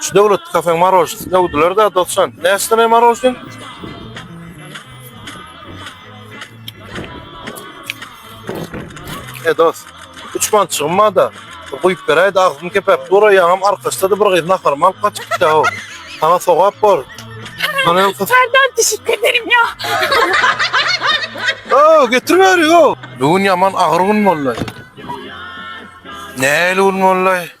Şu döwlet kafeň marojnisi döwdüler da dostan. Näsine marojnin? E dost, üç man çygma da. Guýup beräý da agzym kepep dura ýaňam arkaçda da bir gyz naharymy alyp gaçyp gitdi o. Sana sogap bor. Sana hem kız. Senden teşekkür ederim ya. Oo, getirmeri yo. Bugün yaman ağır gün vallahi. Neyle gün vallahi?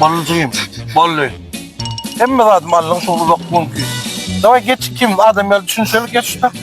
Ballyjygym, Bally. Hemme zat Mallyň şol uzak günki. Daway geç kim adam ýaly düşünşeli geç şutak.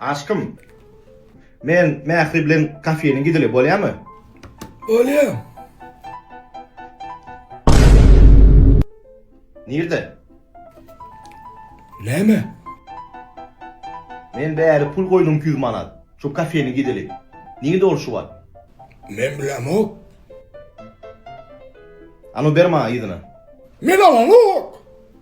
Aşkym. Men Mähri bilen kafeýiň gideli bolýamy? Bolýa. Nirde? Näme? Men bäri pul goýdum iki ýüz manat. Şu kafeýiň gideli. Nirde ol şu wagt? Men bilemok. Anu ber maňa yzyna. Men alanok.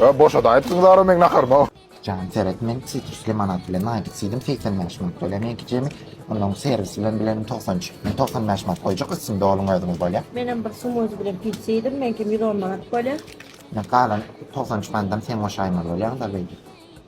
Ö boşa da etdiň zara men nakarma. Jan seret men sitrusly manat bilen naýt etseýdim 85 manat töleýän ýeke jemi. Ondan soň serwis bilen bilen 90 çyk. Men 95 manat goýjak üstüni doluň özüňiz bolýa. Men hem bir summozy bilen pişseýdim meňkim 110 manat bolýa. Men galan 93 manatdan sen goşaýmaly bolýaň da beýdip.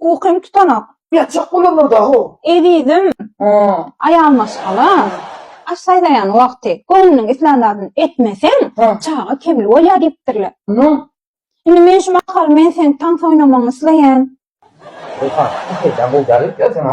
Ukym tutanok. Ýatjak bolarlar-da-ow. Ezizim, aýal maşgala, aş saýlaýan wagty göwnüniň islän zadyny etmeseň, çaga kemli bolýar diýipdirler. Indi men şu mahaly men seň tans oýnamagyňy isleýän. Ýogsam, bu peýda gowy däl-ow saňa.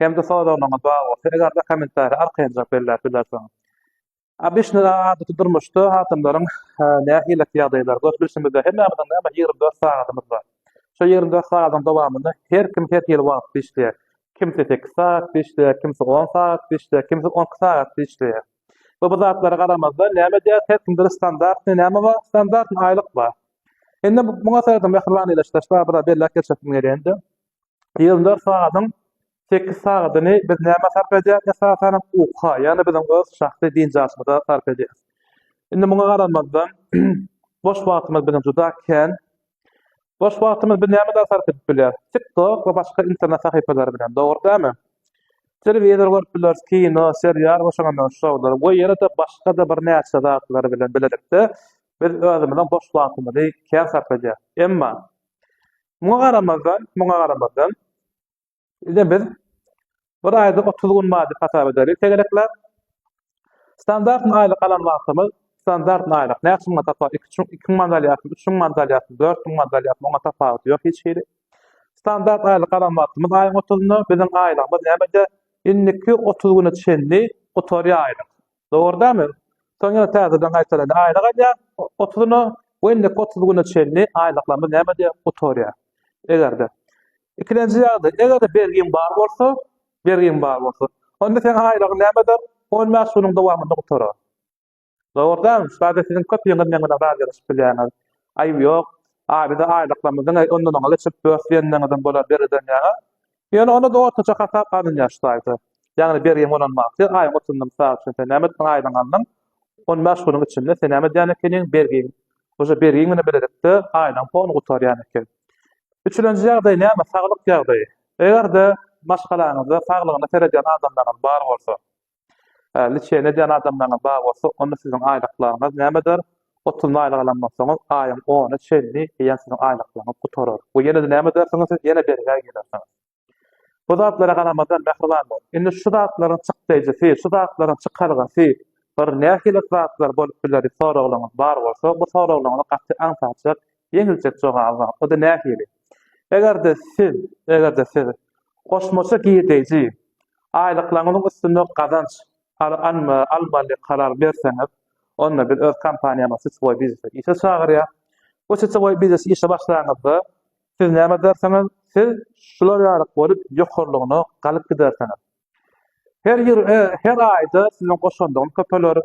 hem-de soraglaryňyz bar bolsa, eger-de kommentariýa arkaýynrak belläp bilersiňiz. Обычно adaty durmuşda adamlaryň nähili ýagdaýlary görüp bilşimizde hemmämiziň näme ýigrimi dört sagadymyz bar. Şo ýigrimi dört sagadyň dowamynda her kim her hili wagtda işleýär. Kimsi sekiz sagat işleýär, kimsi on sagat işleýär, kimsi on iki sagat işleýär. We bu zatlara garamazdan näme edýär? Her kimde standartny näme bar? Standartny aýlyk bar. Indi muňa seredip mähriban ilaçdaşlar biraz belläp geçesim gelýär indi. Ýyl dört sagadyň sekiz sagadyny biz nämä sarp edýäris? Esasanam uka, ýagny biziň öz şahsy biynjalymyza sarp edýäris. Indi muňa garamazdan, boş wagtymyz biziň juda kän. Boş wagtymyzy biz näme bilen sarp edip bilýäris? TikTok we başga internet sahypalary bilen, dogry dälmi? Telewizor görüp bileris, kino, serial we şoňa meňzeş şowlar we ýene-de başga-da birnäçe zatlar bilen bilelikde biz özümiziň boş wagtymyzy kän sarp edýäris. Emma Muňa garamazdan, muňa garamazdan, ine biz bir aýda 30 gün wajyp hasap ederis tegelekläp. Standartny aýlyk alan wagtymyz, standartny aýlyk näçe muňa tapar? 2 çuň, 2 muňa alýarsyň, 3 muňa alýarsyň, 4 muňa alýarsyň, oňa tapawudy ýok hiç hili. Standart aýlyk alan wagtymyz aýyň 30-nda, biziň aýlygymyz nämede? Indiki 30 güne çenli gutarýar aýlyk. Dogurdamy? Soň ýene täzeden gaýtalady. Aýlyk alýar otuzyna we indiki otuz güne çenli aýlyklarymyz näme diýýär? Gutarýar. Eger-de. Ikilenji ýagdaý, eger-de bergiň bar bolsa, bergiň bar bolsa, onda seň aýlygyň näme eder? On bäş günüň dowamynda gutarar. Dogurdamy? Şulardan siziň köpüňiz meň bilen razylaşyp bilýäňiz. Aýyp ýok. Aýda-da aýlyklarymyzyň ondan oňa geçip, bös diýenleriňizem bolar bergiden ýaňa. Ýöne onda-da ortaça hasap alynýar şu taýda. Ýagny bergiň bolan wagty aýyň otuzynda mysal üçin sen näme etdiň aýlygyňy aldyň, on bäş günüň içinde sen näme edýän ekeniň bergiň uje bergiň bilen bilelikde aýlygyň poluny gutarýan eken. Üçülenji ýagdaý näme saglyk ýagdaýy. Eger-de maşgalaňyzda saglygyna seredýän adamlaryňyz bar bolsa. Liçeni edýän adamlaryňyz bar bolsa, onda siziň aýlyklaryňyz nämedir? Otuz müň aýlyk alan bolsaňyz, aýyň ony çenli eýýäm siziň aýlyklaryňyz gutarar we ýene-de näme edersiňiz, siz ýene bergä girersiňiz. Bu zatlara garamazdan, mähriban boluň. Indi şu zatlaryň çykdaýjysy, şu zatlaryň çykalgasy bir nähili zatlar bolup bileri soraglaryňyz bar bolsa, bu soraglaryňyzy gaty aňsatjak Ýeňiljek jogabyňa, o-da nähili? Eger-de siz, eger-de siz goşmaça girdeýji, aýlyklaryňyzyň üstünde gazanç almaly karar berseňiz, onda biz öz kompaniýamyzy siçewoý biznese işe çagyrýas. Bu siçewoý biznese işe başlanyňyzda, siz näme edersiňiz? Siz şular ýaly bolup ýokarlygyna galyp gidersiňiz. Her ýyl, her aýda siziň goşandyňyz köpeler,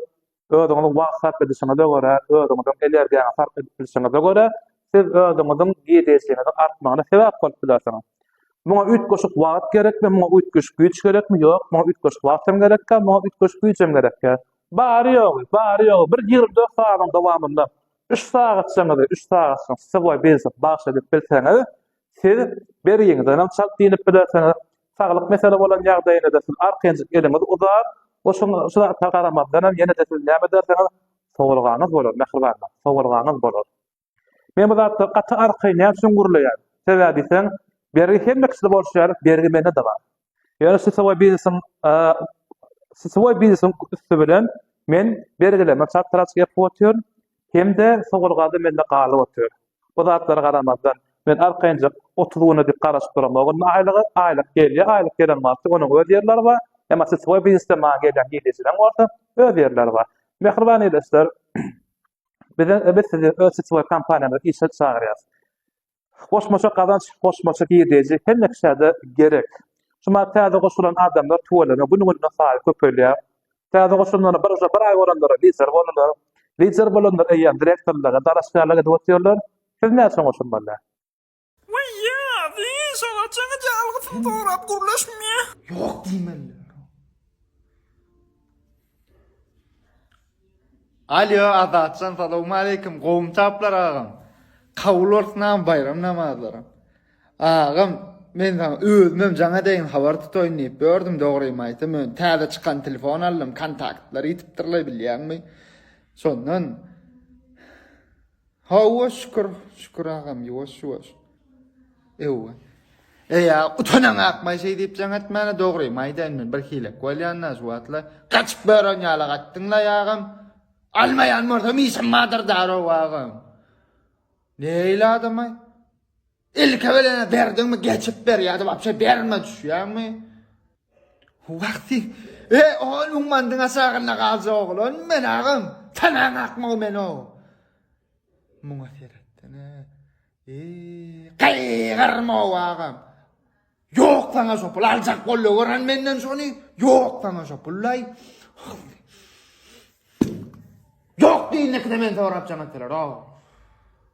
Özüňiziň wagt sarp edişiňize görä, özüňiziň energiýaňyzy sarp edip bilşiňize görä, siz özüňiziň girdejiniziň artmagyna sebäp bolup bilersiňiz. Muňa üýtgeşik wagt gerekmi, muňa üýtgeşik güýç gerekmi? Ýok, muňa üýtgeşik wagt hem gerek däl, muňa üýtgeşik güýç hem gerek däl. Bary-ýogy, bary-ýogy bir ýigrimi dört sagadyň dowamynda üç sagatçaňyzy, üç sagatçaňyzy sport biznese bagyş edip bilseňiz, siz beriňizden hem çalt diýnip bilersiňiz, Saglyk mesele bolan ýagdaýyňyzda siz arkanjyk eliňizi uzap, oşuň şu zatlara garamazdanam ýene-de siz näme edersiňiz? Sowulgaňyz bolar, mähribanlar, sowulgaňyz bolar. Men bu zatda gaty arkaýyn näme üçin gürleýän? Sebäbi diýseň, bergi hemme kişide bolşy ýaly bergi mende-de bar. Ýöne sitsowoý biznesiň sitsowoý biznesiň üsti bilen men bergilerime çartaraç gepip otyryn. Hem-de Sogurgazy mende galyp otyr. Bu zatlara garamazdan, men arkaýynjak otuz güne dik garaşyp duram o günde aýlyga. Aýlyk gelýär, aýlyk gelen wagty onuň öz ýerleri bar. Emma sitwoý biznesde maňa gelýän girdejileň bolsa öz ýerleri bar. Mähriban ildeşler, biz sizi öz sitwoý kompaniýamyza işe çagyrýarys. Goşmaça gazanç, goşmaça girdeji hemme kişä-de gerek. Şu maýa täze goşulan adamlar tüweleme gün-günden saýy köpelýär. Täze goşulanlara bir uja bir aý bolanlara lider boldular. Lider bolanlar eýýäm direktorlyga, dalaşgärlige edip otyrlar. Siz näçe goşulmaly? Weýýa, diýiş olar çekici algysyny sorap gürleşmä. Ýok diýmeliler. Alýo Azatjan salowmaleýkim gowumy taplar agam. Kabul bolsun agam baýram namazlaryň. Agam men saňa özümem jaňa deýin habar tutaýyn diýip ýördüm dogrymy aýtsam men täze çykan telefon aldym kontaktlary ýitipdirler bilýäňmi şondan Hawa şükür şükür agam ýuwaş ýuwaş ewe. Eýa utanaň akmaý şeý diýip jaň etmäne dogrymy aýdaýyn men bir hilek bolýanda şu wagtla gaçyp bören ýala gatdyň laý agam almaýan bolsam işim bardyr darow agam. Neýle adamaý. Ilki bilen berdiňmi geçip ber ýa-da wapşe berme düşýäňmi? Wagty. E, ol ummandyň aşagynda galjak oglan men agam. Tanaň akmagy men o. Muňa seretden. E, gaýgyrma o agam. Ýok sana şo pul aljak boldy gören menden şony. Ýok sana şo pullaý. Ýok diýinekde men sorap janatdylar. Oh.